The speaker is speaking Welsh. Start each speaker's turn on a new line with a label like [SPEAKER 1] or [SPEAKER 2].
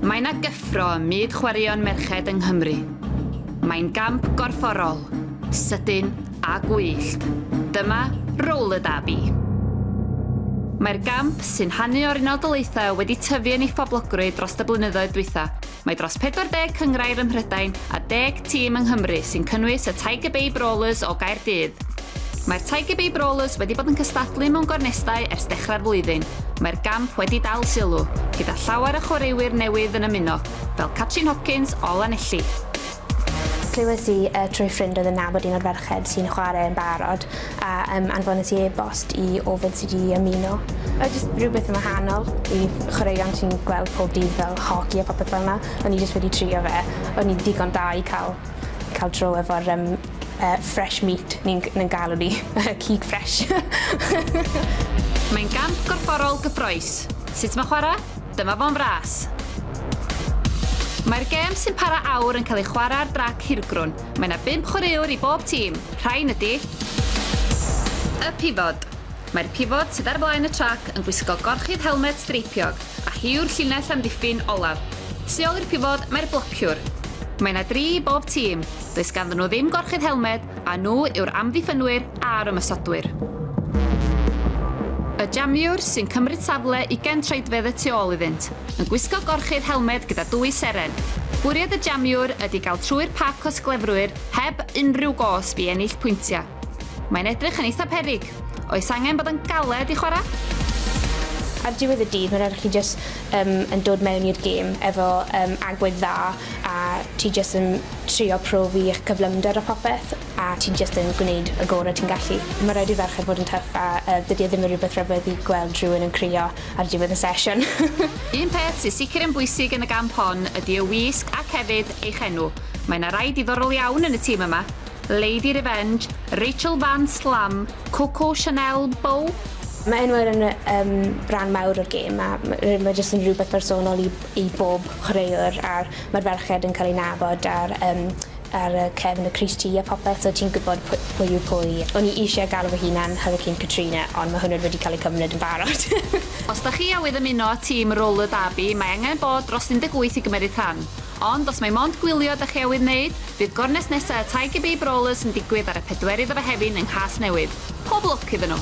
[SPEAKER 1] Mae yna gyffro ym myd chwaraeon merched yng Nghymru. Mae'n gamp gorfforol, sydyn a gwyllt. Dyma Roller Derby. Mae'r gamp, sy'n rhannu o'r Unol Daleithiau, wedi tyfu yn ei phoblogrwydd dros y blynyddoedd dwytha. Mae dros 40 cynghrair ym Mhrydain a deg tîm yng Nghymru sy'n cynnwys y Tiger Babe Rollers o Gaerdydd, Mae'r Tiger Bay Brawlers wedi bod yn cystadlu mewn gornestau ers dechrau'r flwyddyn, mae'r gamp wedi dal sylw, gyda llawer o chwaraewyr newydd yn ymuno, fel Catrin Hopkins o Lanelli.
[SPEAKER 2] Clywais i trwy ffrind oedd yn nabod un o'r ferched sy'n chwarae yn barod, a anfones i e-bost i ofyn sut i ymuno. Oedd jyst rhywbeth yn wahanol i chwaraeon ti'n gweld pob dydd fel hoci a popeth fel 'na, o'n i jyst wedi trio fe, o'n i'n ddigon da i ca'l ca'l draw efo'r yym uh, fresh meat ni'n ni galw ni, cig fresh. Mae'n
[SPEAKER 1] gamp gorfforol gyffroes. Sut mae chwarae? Dyma fo'n fras. Mae'r gêm sy'n para awr yn cael ei chwarae ar drac hirgrwn. Mae yna bimp chwaraewr i bob tîm. Rhain ydy... Y pifod. Mae'r pifod sydd ar flaen y trac yn gwisgo gorchudd helmet streipiog, a hi yw'r llinell amddiffyn olaf. Tu ôl i'r pifod mae'r blociwr, Mae yna dri i bob tîm. Does ganddyn nhw ddim gorchudd helmed a nhw yw'r amddiffynwyr a'r ymosodwyr. Y jamiwr, sy'n cymryd safle ugain troedfedd y tu ôl iddynt, yn gwisgo gorchudd helmed gyda dwy seren. Bwriad y jamiwr ydy gael trwy'r pac o sglefrwyr heb unrhyw gosb i ennill pwyntiau. Mae'n edrych yn eitha peryg. Oes angen bod yn galed i chwarae?
[SPEAKER 2] Ar diwedd y dydd, mae'n rhaid i chi jyst um, yn dod mewn i'r gêm efo um, agwedd dda a ti jyst yn trio profi eich cyflymder a popeth a ti jyst yn gwneud y gorau ti'n gallu. Mae rhaid i'r ferched fod yn tyff a uh, dydy e ddim yn rhywbeth rhyfedd i gweld rhywun yn crio ar diwedd y sesiwn. Un peth
[SPEAKER 1] sy'n sicr yn bwysig yn y gamp hon ydy y wisg ac hefyd eich enw. Mae yna rai diddorol iawn yn y tîm yma. Lady Revenge, Rachel Van Slam, Coco Chanel, Bow, Mae enwau yn
[SPEAKER 2] yym ran mawr o'r gêm a ma' r- ma' jyst yn rhywbeth personol i i bob chwaraewr a'r ma'r ferched yn cael eu nabod ar yym ar y cefn y crys ti a popeth so ti'n gwybod pwy pwy yw pwy. O'n i isie galw fy hunan Hurricane Katrina ond ma' hwnna wedi cael ei cymryd yn barod. Os 'da chi
[SPEAKER 1] awydd ymuno â tîm Roller Derby mae angen bod dros 18 i gymeryd rhan. Ond os mai mond gwylio ydach chi awydd wneud, bydd gornest nesa' y Tiger Bay Brawlers yn digwydd ar y pedwerydd o Fehefin yng Nghasnewydd. Pob lwc iddyn nhw!